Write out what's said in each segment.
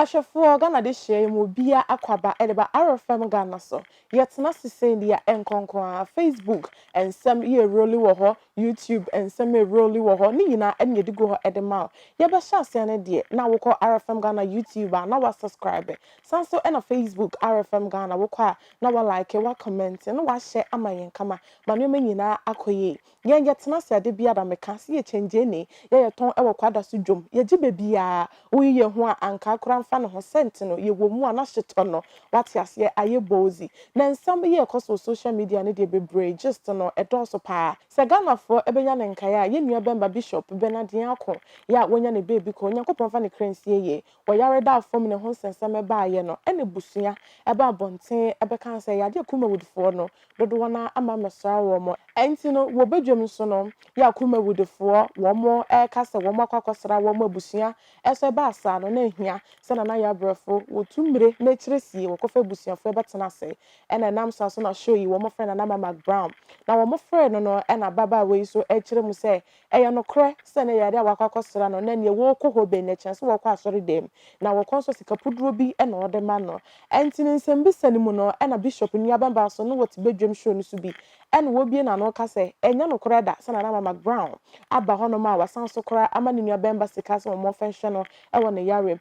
Ahwɛfoɔ, Ghana dehyeɛ yi mu obiara akɔ aba de ba RFM Ghana so. Yɛtena ase sei deɛ a ɛnkɔ nko ara, Facebook nsɛm yɛreroli wɔ hɔ, YouTube nsɛm yɛreroli wɔ hɔ, ne nyinaa na yɛde gu hɔ de ma wo. Yɛbɛhyɛ aseɛ no deɛ na wokɔ RFM Ghana YouTube a na woasɔskraibe. San nso na Facebook RFM Ghana wokɔ a na wa like wa comment na wa share ama yɛn kama ma nneɛma nyinaa akɔ yie yɛn yɛ tena ase ade biara me ka sɛ yɛ kyɛngyeeni yɛ yɛ tɔn ɛwɔ kwada so dwom yɛ gye bɛbiaa wo yi yɛ ho a ankaa kora nfa ne ho sɛ nti no yɛ wɔ mu a na hye tɔ no wate aseɛ ayɛ bozy na nsɛm yi ɛkɔ so wɔ social media no deɛ bebree gist no ɛdɔɔso paa sɛ Ghanafoɔ ɛbɛnya ne nkaeɛ a yɛn nua bɛmba Bishop Bernard Nyarko yɛ a wanya ne baabi kɔ Onyankopɔn nfa ne kra nsie yɛ Ɔyare baa fam ne ho nsɛnsɛm baeɛ no na abusua baa abɔnten bɛkaa sɛ Yadeɛ Kumawudfoɔ no dodoɔ no ara ama mmɛsra wɔn. Ɛnti no wɔ badwam nso no yɛ a Kumawudfoɔ wɔn reka sɛ wɔn akɔ akɔsra wɔn abusua so ɛbaa saa no na ahia sɛ Nana Yabrɛfo wɔtu mmire na akyire sie wɔkɔfa abusuafoɔ bɛtena ase na ɛnam saa so na show yi wɔfrɛ Nana Mamak Brown na wɔfrɛɛ no no na ababaawa yi nso ɛkyerɛ mu sɛ Ɛyɛ nokorɛ sɛ na yare a wakɔ akɔsra no na neɛ wɔɔkɔ hɔ bɛn na ɛkyɛn sɛ wɔɔkɔ asɔredɛm na wɔkɔ nso sika puduo bi na wɔde ma no. Ɛnti no nsɛmbisa no mu no na Bishop nua bɛmba nso ne wɔte badwam show no so bi na wɔbue n'ano ka sɛ ɛnyɛ nokorɛ da sɛ Nana Mama Brown aba hɔ nom a wasan nso koraa ama ne nua bɛmba sika sɛ wɔmɔfa nhwɛ no wɔ ne yarem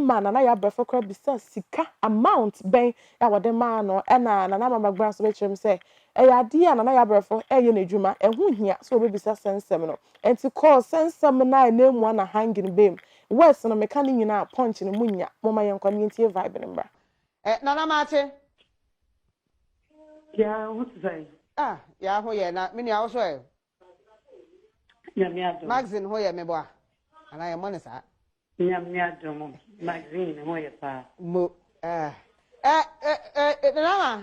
ma Nana yɛ abrɛfo koraa bisa sika amount bɛn a wɔde maa no ɛna Nana Mama Brown nso bɛkyerɛ mu sɛ Ɛyɛ adeɛ a Nana Yabrɛfo reyɛ n'adwuma, ɛho hia sɛ wɔbɛbisa sɛ nsɛm no nti kɔɔ sɛ nsɛm no a ɛnanmu a na hanging baam. Words no meka ne nyinaa a punch no mu nnya, momma yɛnkɔ na yɛntie vibe no mmra. Eh, Nana Maate. Yea, wo ho te sɛn? Ah, Yea ho yɛ na me nua wo so ɛ? Nyame adom. Maxine ho yɛ meboa? Anaa yɛmmɔ no saa? Nyame adom, Maxine ho yɛ paa. Mo, eh, eh, eh, eh, Nana Ma.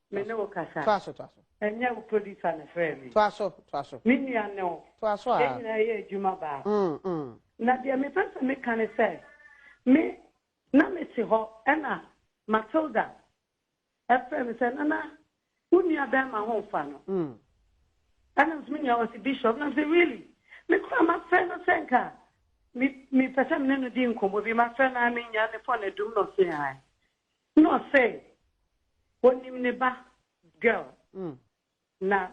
Me ne wo kasa. Toa so, toa so. Ɛnyɛ wo producer na ɛfrɛɛ me. Toa so, toa so. Me nua ne wo. Toa so ara. Yɛn nyinaa yɛyɛ adwuma baako. Mm, mm. Na deɛ mepɛ sɛ meka ne sɛ, me, na mete hɔ ɛna Matilda ɛfrɛɛ me sɛ, Nana, wo nua bɛrima ho mfa no. Mm. Ɛna me sɛ, me nua wɔ se Bishop. Na me sɛ, really? Me koraa mafrɛ no sɛ nka me, mepɛ sɛ me ne no di nkɔmmɔ bi. Mafrɛ no ara mennya ne phone adum na ɔse ae. Na ɔsee onim ne ba girl na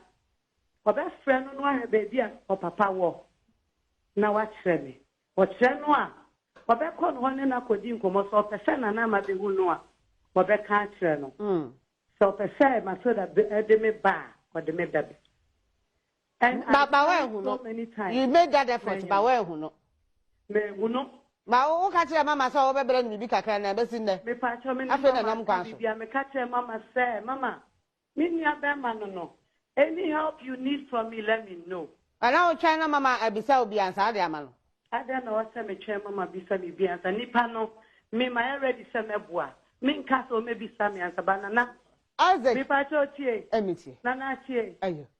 ɔbɛfrɛ no na wahwɛ baabi a ɔpapa wɔ na wakyerɛ me. Ɔkyerɛ no a ɔbɛkɔ no hɔ ne no akɔdi nkɔmmɔ sɛ ɔpɛ sɛ Nana Ama bɛhu no a ɔbɛka akyerɛ no. Sɛ ɔpɛ sɛ Matilda de me ba a ɔde me bɛba. And ba ba wa ehu no you made that effort ba wa ehu no mehu no ba wo ka kyerɛ mama sɛ wɔbɛbrɛ no biribi kakra na ɛbɛsi nnɛ afei na nam kwan so bia meka kyerɛ mama sɛ mama me nua bɛrima no no any help you need from me let me know ɛna wotwɛn na mama abisa wo bia nsa ade ama no adɛn na ɔsɛ metwɛn mama bisa me bia nsa nipa no mema yɛ ready sɛ mɛboa menka sɛ ɔmɛbisa me ansa ba nana Isaac mepa kyɛ otie ɛmetie nana tie ayo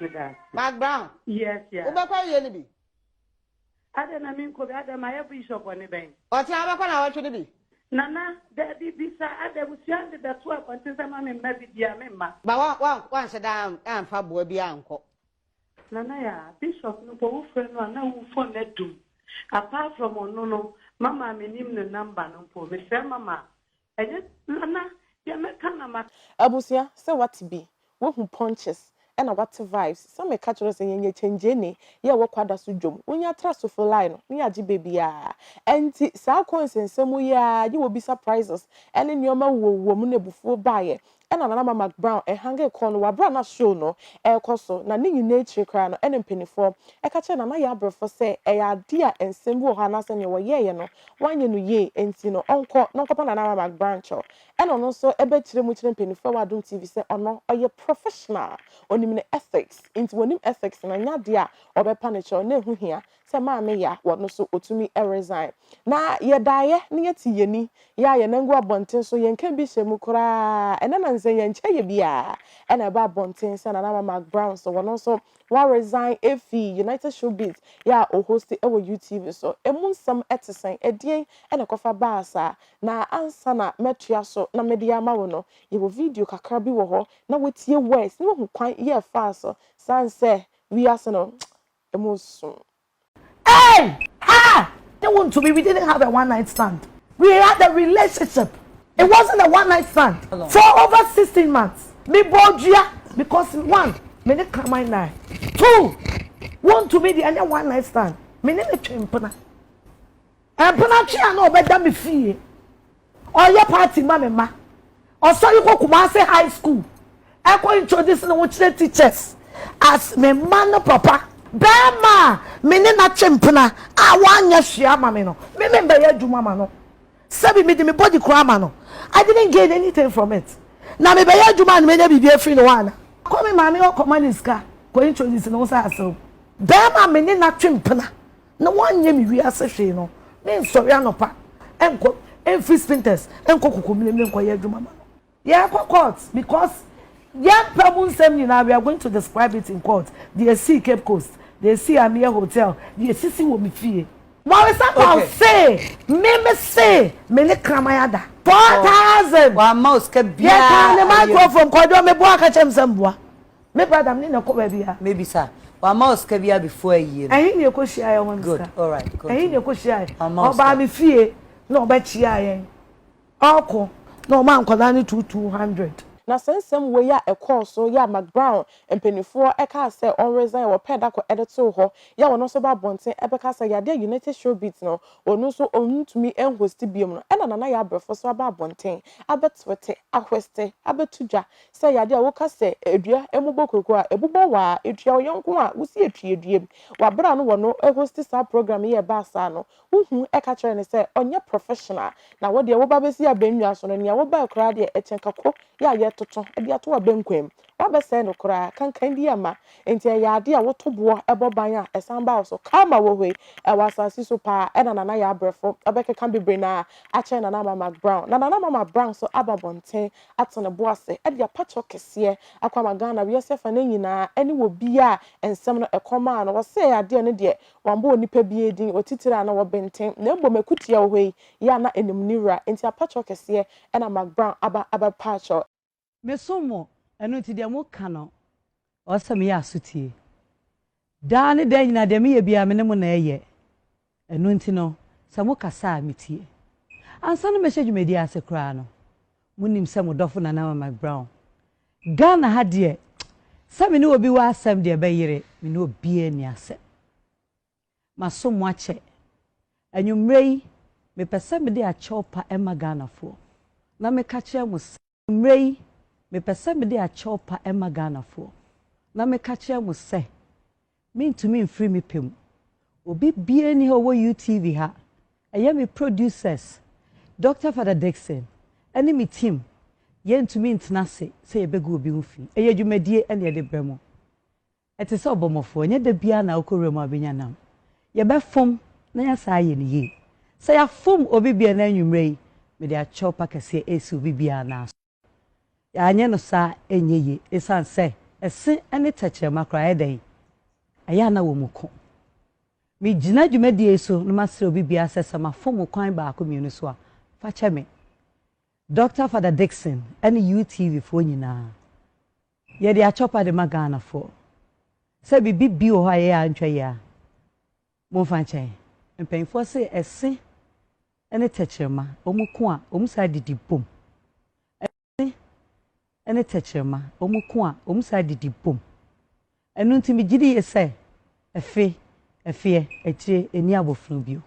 Meda ase. Mark Brown. Yes, yeah. Wobɛkɔ awie no bi? Adɛn na menkɔ bi? Adɛn mayɛ bishop bɔne bɛn? Ɔkyena wobɛkɔ na awɔtwe no bi? Nana, dabi, bisa, adɛn abusua de bɛto abɔnten sɛ ma me mma bi bia me mma? Ba wa, wa, wanhyɛ da amfa boa bi ankɔ. Nana ya, bishop no bɔ wo frɛ no a na wo phone adum. Apart from ɔno no, mama a menim ne number no mpo, mefrɛ mama a, Ɛnyɛ nana deɛ mɛka na ma. Abusua sɛ wate bi wahu punches ɛna wate vibes sɛ meka kyerɛ wo sɛ yɛnyɛ kyengyene yɛ ɛwɔ kwada so dwom wo nya tra sofo line no ne yɛagye bɛ biaa ɛnti saa coins nsɛm yi aa yɛ wɔ bi surprises ɛne nnoɔma wuo wuo mu na abufuo baayɛ Ɛnna Nana Ama McBrown hangee kɔɔ no wɔ bere a na show no rekɔ so, na ne nyinaa akyiri koraa no, ɛnna mpanimfoɔ ka kyerɛɛ Nana Yɛabrɛfoɔ sɛ ɛyɛ adeɛ a nsɛm bi wɔ hɔ anaasɛ nea wɔyɛeɛ no, wɔanyɛ no yie, enti no ɔnkɔ na ɔnkɔpa Nana Ama McBrown kyɛw. Ɛnna ɔno nso bɛkyerɛ mu kyerɛ mpanimfoɔ wɔ Adom TV sɛ ɔno ɔyɛ professional, ɔnim ne ethics, enti wɔnim ethics no, ɛnyɛ adeɛ a wɔbɛpa no kyɛw, na ɛho hia Sɛ maame ya wɔ no so otumi resign. Na yɛ daeɛ na yɛ te yɛni yɛ a yɛ nan gu abɔnten so yɛ nka bi hyɛ mu koraa ɛnɛ na nsɛ yɛ nkyɛ yɛ biaa ɛna ɛba abɔnten sɛ Nana Mamak Brown so wɔ no nso wa resign efi United Show Biz yɛ a ohosti ɛwɔ UTV so ɛmu nsɛm ɛte sɛn ɛdeɛn ɛna ɛkɔfa baa saa na ansa na mɛtoa so na mede ama wo no yɛ wɔ video kakra bi wɔ hɔ na watie words na wahu kwan yɛ faa so san sɛ wiase no Emu so. Ei! Haa! Te wo ntumi we didn't have a one night stand we had a relationship it wasn't a one night stand for over sixteen months me bɔɔ dua because one me ne kraman nae two wo ntumi deɛ ɛnyɛ one night stand me ne no twe mpena. Mpenatwe a na ɔbɛda me fie, ɔyɛ party ma me mma, ɔsɔre kɔ Kumasi High School ɛkɔ introduce ne ho kyerɛ teachers as me mma no papa. Barima a me ne no atwe mpena a wanyɛ hwee ama me no, me membɛyɛ adwuma ma no. Sɛbi mede me body koraa ma no, I didn't gain anything from it. Na mebɛyɛ adwuma a na menya biribi afiri ne hɔ anaa? Kɔ me maame hɔ kɔma no sika kɔ introduce ne ho sɛ aserew. Barima a me ne no atwe mpena na wɔanyɛ me wiase hwee no, mensɔre anɔpa nkɔ mfiri Spintex nkɔ Kokomilemile nkɔyɛ adwuma ma no. Yɛkɔ court because yɛmpɛ mu nsɛm nyinaa, we are going to describe it in court, deɛ ɛsii Cape Coast, deɛ ɛsii Amia Hotel, deɛ ɛsisi wɔ me fie. Waresapɔn se me me se me ne kraman ada. Four thousand! Yɛkaa ne microphone kwadwo meboa ka kyerɛ me sɛ mboa. Me brada mene no kɔ baabi a. Mebisa, wamma wo sika biara before ayie no? Ɛhe na yɛkɔhyiaeɛ ɔma me sika? Good, alright, continue. Ɛhe na yɛkɔhyiaeɛ? Wamma wo sika? Ɔbaa me fie na ɔbɛkyeaa yɛn, ɔɔkɔ na ɔmaa nkwadaa no two two hundred. Na saa nsɛm wei a ɛkɔɔ so yɛ a McBrown mpanimfoɔ kaa sɛ ɔn resign wɔ pɛɛ da kɔ de too hɔ yɛ a ɔno nso ba abɔnten bɛka sɛ yadeɛ a United Showbiz no ɔno nso ɔntumi nhosti biom no ɛna Nana Yɛ Abrɛfo nso aba abɔnten abɛtwete, ahweste, abɛto dwa Sɛ ɛyɛ ade a woka sɛ dua mmobɔ kurokow a, ɛbobɔ wo ara. Etua wo yɔnko a wosi atwi adua mu. Wɔ bere a no wɔ no hosti saa program yi a ɛbaa saa no, wuhu ka kyerɛɛ no sɛ ɔnyɛ professional. Na wo deɛ woba bɛsi abannwa so no, nea wobae koraa deɛ ɛkyɛn kako yɛ a yɛtoto de ato w'abenkwam. Woabɛsɛe no koraa, kankan biara mma. Enti ɛyɛ ade a woto boɔ bɔ ban a ɛsan ba wo so. Karma wɔ hɔ yi, ɛwɔ asase so paa ara. Ɛna Nana yɛ abrɛfo, ɔbɛkeka bebree na akyɛn Nana Ama McBrown. Na Nana Ama McBrown nso aba abɔnten ato ne bo ase de apakyɛw kɛseɛ akɔ ama Ghana, wiase afa no nyinaa, ɛne wɔ bi a nsɛm no ɛkɔm maa no, wɔsɛɛ adeɛ no deɛ, wɔammɔ onipa biara din, wɔtitire a na wɔbenten, na mmom akutia wɔ hɔ yi, yɛ a na ɛnim ne wura, enti apakyɛw kɛseɛ na Mac Brown aba abɛpaakyɛw. Mesom mo, ɛno nti deɛ moka no, Ɔsɛ sɛ meyɛ aso tie. Daa ne daa nyinaa, deɛ meyɛ biara, me ne mo na ɛyɛ. Ɛno nti no, sɛ mokasa a, metie. Ansa na mɛhyɛ dwumadie ase koraa no, monim sɛ mo dɔfo Nana Mike Brown. Ghana ha deɛ, sɛ me ne obi wɔ asɛm deɛ ɛbɛyere, me ne obiara nni asɛm. Masom mo akyɛ. Anwummerɛ yi, mepɛ sɛ mede akyɛw pa ma Ghanafoɔ, na meka kyerɛ mo sɛ. Mmerɛ yi, mepɛ sɛ mede akyɛw pa ma Ghanafoɔ na meka kyerɛ mo sɛ, mentumi mfiri me pɛ mu. Obi biara nni ha ɔwɔ UTV ha, ɛyɛ me producers, Doctor Father Dickson ne me team, yɛntumi ntena ase sɛ yɛbɛgu obi ho fi. Ɛyɛ dwumadie na yɛde brɛ mo. Ɛte sɛ ɔbɔmmɔfoɔ, ɛnyɛ da biara na wokɔ wuram a wobɛnya nam. Yɛbɛfom na yɛasan ayɛ no yie. Sɛ yɛafom obi bi ɛnnɛ anwummerɛ yi, mede akyɛw pa kɛseɛ resi obi biara nan so. Yɛanyɛ no saa a, ɛnyɛ yie, ɛsiane sɛ ɛse ne tɛkyerɛma koraa ayɛ dɛn? Ayɛ a na wɔ mu ko. Megyina dwumadie yi so na masrɛ obi biara sɛ sɛ mafom wo kwan baako mmienu so a, fa kyɛ me. Dɔkta Fada Dickson ne UTV foɔ nyinaa. Yɛde akyɔpa de ma Ghanafoɔ. Sɛ biribi bi wɔ hɔ a yɛyɛ a antwa yie a, momfa nkyɛ yɛn. Mpanimfoɔ se ɛse ne tɛkyerɛma, wɔko a, wɔn saa didi bom. Ɛse ne tɛkyerɛma, wɔko a, wɔn saa didi bom. Ɛno nti megye di yie sɛ afe, afeɛ, akyire ɛnni abɔfee bio.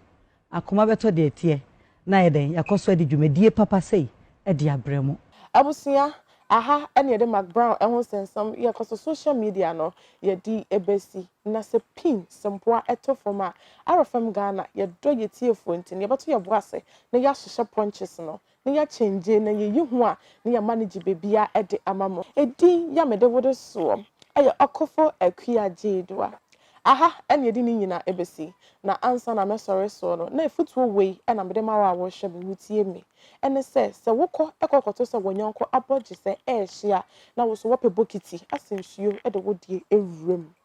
Akoma bɛtɔ deɛ ɛteɛ na ayɛ dɛn, yɛakɔ so adi dwumadie papa sei de abrɛ mo. Abusua, Ɛha na yɛde Mark Brown ho nsɛnsɛm yɛkɔ so social media no yɛde bɛsi. Na sɛ pin, sɛ mpoa to fam a, RFM Ghana, yɛdɔ yɛn tiefoɔ nti no yɛbɛto yɛn bo ase na yɛahyehyɛ punches no Ne ya kyɛngye na yɛ yi ho a ne ya ma ne gye bebia de ama mo. Edin ya mede wo de soɔ yɛ ɔkofo Akua Gyeedua. Aha na yɛde ne nyina besi. Na ansa na mɛsɔre soɔ no na afutuo wei na mede ma wo a worehwɛ me wotie me. Ɛne sɛ, sɛ wo kɔ kɔ kɔto sɛ wɔnyɔnko abɔ gyesɛ ɛɛhye a na wo so wɔpɛ bokiti ase nsuo de wo deɛ wura mu.